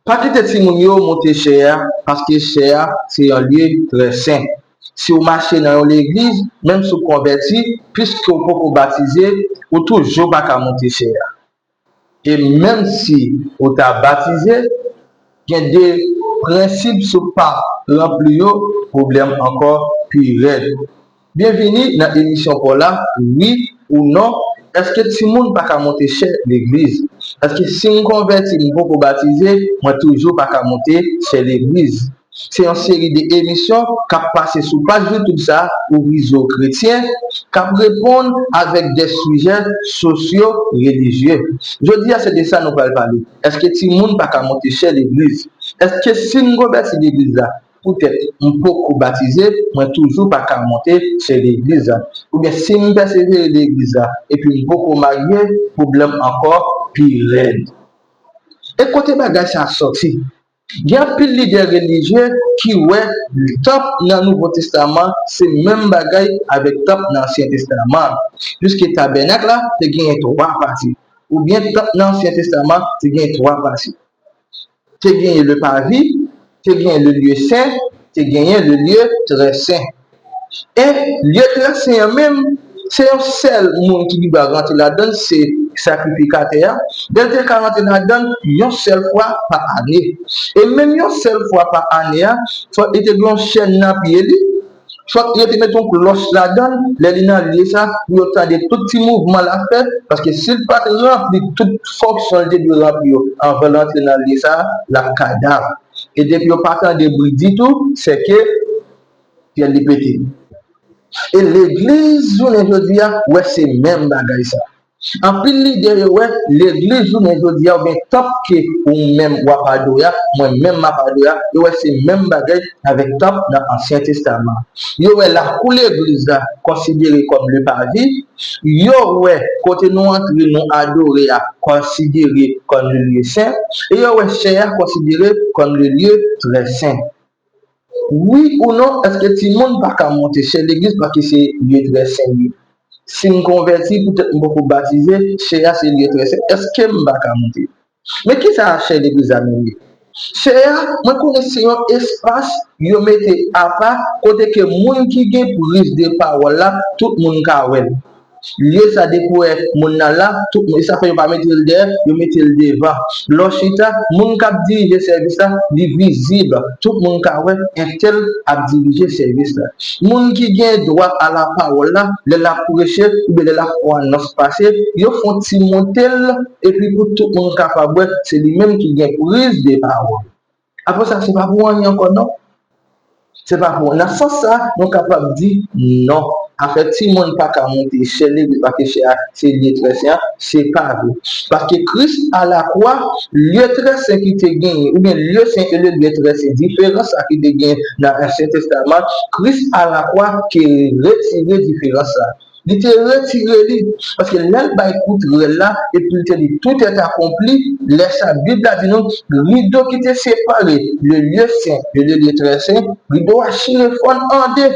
Pa kite timoun yo monte chè a paske chè a se yon lye trè sen. Si w mache nan yon legliz, menm si w konvèti, piske w poko batize, ou toujou pa ka monte chè a. E menm si ou ta batize, gen de prensip si w pa ranpli yo, pwoblèm ankò pi rèd. Byenvini nan emisyon paw la wi ou non eske timoun paka monte chè legliz eske sim konvèti m poko batize mwen toujou paka monte chè legliz se yon seri de emisyon kap pase sou paj youtube sa ouvri zye w kretyen kap reponn avèk de sijè sosyo relijye jodia se de sa nou pral pale eske timoun paka monte chè legliz eske sim konvèti legliz la Poutèt m poko batize, mwen toujou pa ka monte se legliz la. Oubyen si m pèsevere legliz la epi m poko marye, pwoblèm ankò pi rèd. E kote bagay sa sòti? Gen anpil lidè relijye ki wè tanp nan Nouvo Testaman se menm bagay avèk tanp nan Ansyen Testaman an, piske tabènak la te genyen twa pati, oubyen tanp nan Ansyen Testaman te genyen twa pati. te genyen le pavi, te genyen le lye sen, te genyen le lye trè sen. E lye trè sen an menm, se yon sèl moun ki gen dwa rantre ladan l, se sakrifikatè a, e l te ka rantre ladan l yon sèl fwa pa ane. E menm yon sèl fwa pa ane a, fòk li te gen yon chèn nan pye li, Fòk yo te met yon klòch ladann lè li nan lye sa pou yo tande tout ti mouvman l ap fè, paske si l pa t ranpli tout fonksyon l te dwe ranpli yo anvan l rantre nan lye sa, l ap kadav. E depi yo pa tande bri ditou, sèke fyèl li pete. E legliz jounen jodi a wè se menm bagay sa. Anpil lidè yo wè legliz jounen jodia ou byen tanp ke ou menm wap adore a, mwen menm map adore a, yo wè se menm bagay avèk tanp nan ansyen testaman an. Yo wè lakou legliz la konsidere kòm le pavi, yo wè kote nou antre nou adore a konsidere kòm le lye sen, e yo wè chè a konsidere kòm le lye trè sen. Wi ou non, èske timoun pa ka monte chè legliz paske se lye trè sen li? Si m konvèti, poutèt m poko batize, chè a se lye trè sen, èske m pa ka monte? Men kisa chè legliz la menm ye? Chè a, mwen konnen se yon espas yo mete apa kote ke moun ki gen prizde pawòl la, tout moun ka wè l. Lye sa depi w wè moun nan la, tout moun, e sa fè yo pa mete l dèyè, yo mete l devan. Lè w chita, moun k ap dirije sèvis la, li vizib, tout moun ka wè entèl ap dirije sèvis la. Moun ki gen dwa alapawòl la, lè l ap preche oubyen lè l ap fè yon anons pase, yo fè yon ti monte l epi pou tout moun kapab wè se li menm ki gen prizde pawòl. Apre sa, se pa pou anyen ankò non. Se pa pou. Nan sans sa, nou kapab di non. Afè timoun pa ka monte chè Levi paske chè a se lye trè sen an, se pa vre. Paske Kris alakwa, lye trè sen ki te genyen, oubyen lye sen e lye trè sen, diferans sa ki te genyen nan Ansyen Testaman, Kris alakwa te retire diferans sa. Li te retire li, paske lè l bay kout rèl la epi l te li tout est accompli, lè sa Bib la di nou, rido ki te separe le lieu saint de le lieu très saint, rido a chire fòn an de.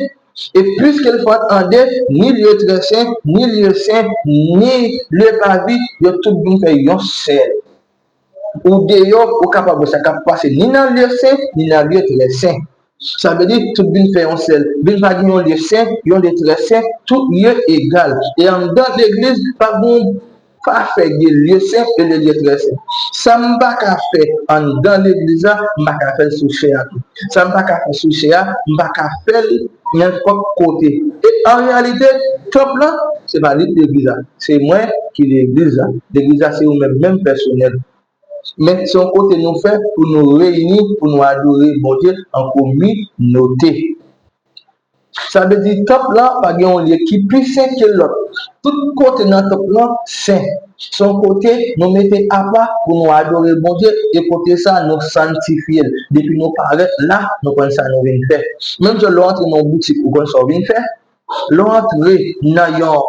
E piske l fòn an de, ni lieu très saint, ni lieu saint, ni le pavis, yo tout vin fè yon sèl. ou deyò, ou kapab wè sa k ap pase ni nan lye sen, ni nan lye trè sen. Sa vle di, tout vin fè yon sèl. Vin pa gen yon lye sen, yon lye trè sen, tout lye egal. E anndan legliz, pa gen yon pafè de lye sen e de lye trè sen. Sa m pa ka fè anndan legliz la, m pa ka fè l sou chè a tou. Sa m pa ka fè sou chè a, m pa ka fè l nenpòt kote. E an reyalite, tanp lan, se pa li legliz la. Se mwen ki legliz la. Legliz la se ou menm menm pèsonèl. Men se yon kote nou fè pou nou reyini pou nou adore Bondye an kominote. Sa vle di tanp lan pa gen yon lye ki pi sen ke lòt. Tout kote nan tanp lan sen. Se yon kote nou mete apa pou nou adore Bondye e kote sa a nou santifye l. Depi nou parèt la, nou konn sa nou vin fè. Menm jan lè w antre nan yon boutik ou konn sa w vin fè, Lè w antre nan yon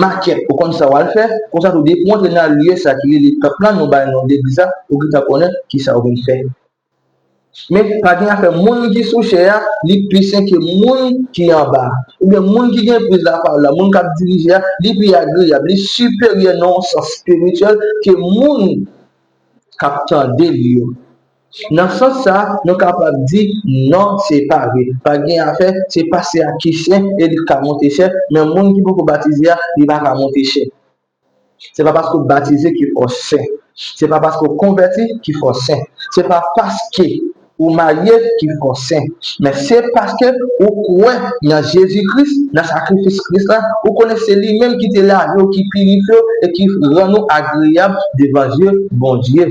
makèt, ou konn sa w al fè, konsa tou depi w antre nan lye sa ki rele tanp lan, nou bay non legliz la, ou gentan konnen ki sa w vin fè. Men, pa gen afè moun ki sou chè a, li pi sen ke moun ki anba a. Oubyen moun ki gen priz lapawòl la, moun k ap dirije a, li pi agreyab, li siperyè nan yon sans espirityèl ke moun k ap tande li yo. Nan sans sa, nou kapab di, non se pa vre. Pa gen afè, se pase a ki chè e li ka monte chè, men moun ki poko batize a, li pa ka monte chè. Se pa paske w batize ki fè w sen. Se pa paske w konvèti ki fè w sen. Se pa paske ou marye ki fè w sen. Men se paske ou kwè nan Jezi Kris, nan sakrifis Kris la, ou konnen se li menm ki te lave w, ki pirifye w e ki rann ou agreyab devan je Bondye.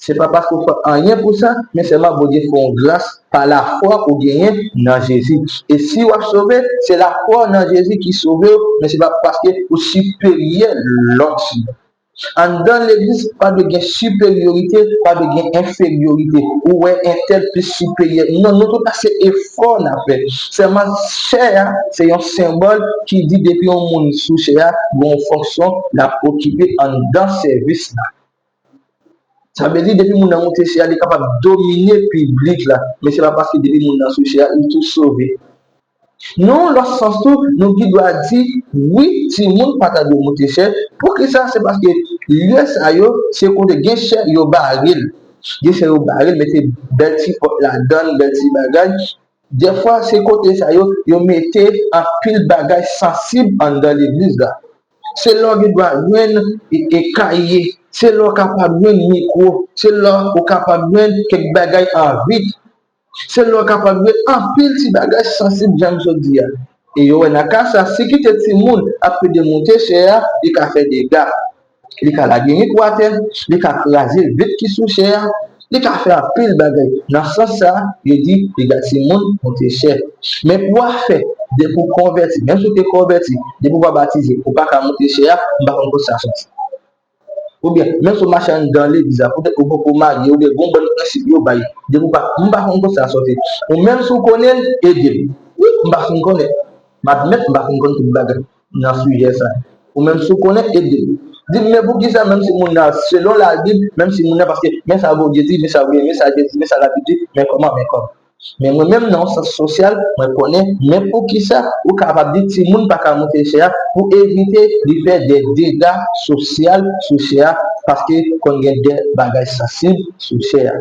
Se pa paske w fè anyen pou sa, men sèlman Bondye fè w gras pa lafwa ou genyen nan Jezi. E si w ap sove, se lafwa w nan Jezi ki sove w, men se pa paske ou siperyè lòt moun. Anndan legliz, pa dwe gen siperyorite, pa dwe gen enferyorite, ou wè entèl plis siperyè. Non, nou tout la se efò n ap fè. Sèlman chè a se yon senbòl ki di depi yon moun sou chè a, gen yon fonksyon l ap okipe anndan sèvis la. Sa vle di depi moun nan moute chè a li kapab domine piblik la men se pa paske depi moun nan sou chè a li tou sove. Nan yon lòt sans tou nou gendwa di wi timoun pa ta dwe moute chè, poukisa se paske lye sa yo se kote gen chè yo bare l, gen chè yo bare l mete bèl ti pòt ladan l, bèl ti bagay, dèfwa se kote sa yo yo mete anpil bagay sansib anndan legliz la. Se la w gen dwa jwenn kaye, se la w kapab jwenn mikwo, se la w kapab jwenn kèk bagay an vit, se la w kapab jwenn anpil ti bagay sansib jan m sot di a. E yo wè nan ka sa, si kite timoun ap pede monte chè a, li ka fè dega. Li ka lage mikwo atè, li ka kraze vit ki sou chè a, Li ka fè anpil bagay. Nan sans sa, yo di dega timoun koute chè. Men pou a fè, depi ou konvèti, menm si ou te konvèti, depi ou pa batize, ou pa ka moute chè a, m pa konn kote sa soti. Oubyen, menm si ou mache anndan legliz la, poutèt ou poko marye, oubyen gen yon bann prensip yo bay, depi ou pa, m pa konn kote sa soti. Ou menm si ou konnen l, ede m. Wi, m pa fin konnen. M admèt m pa fin konn tout bagay. nan sijè sa. Ou menm si w konnen, ede l. Di l, men poukisa menm si moun nan, selon Labib, menm si moun nan, paske men sa Bondye di, men sa Bondye, men sa Bondye di, men sa Labib di, men kòman, men kòman. Men mwen menm nan yon sans sosyal, mwen konnen, men poukisa ou kapab di timoun pa ka monte chè a pou evite li fè de dega sosyal sou chè a paske konn gen de bagay sansib, sou chè a.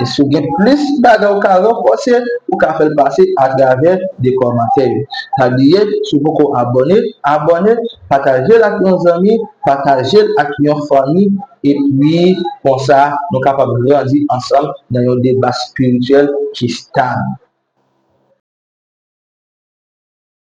E si w gen plis bagay ou ka ranfòse, ou ka fè l pase atravè 2 kòmantè yo. Pa bliye, si w poko abòne, abòne, pataje l ak yon zanmi, pataje l ak yon fanmi, epi konsa nou kapab grandi ansanm nan yon deba spirityèl ki stab.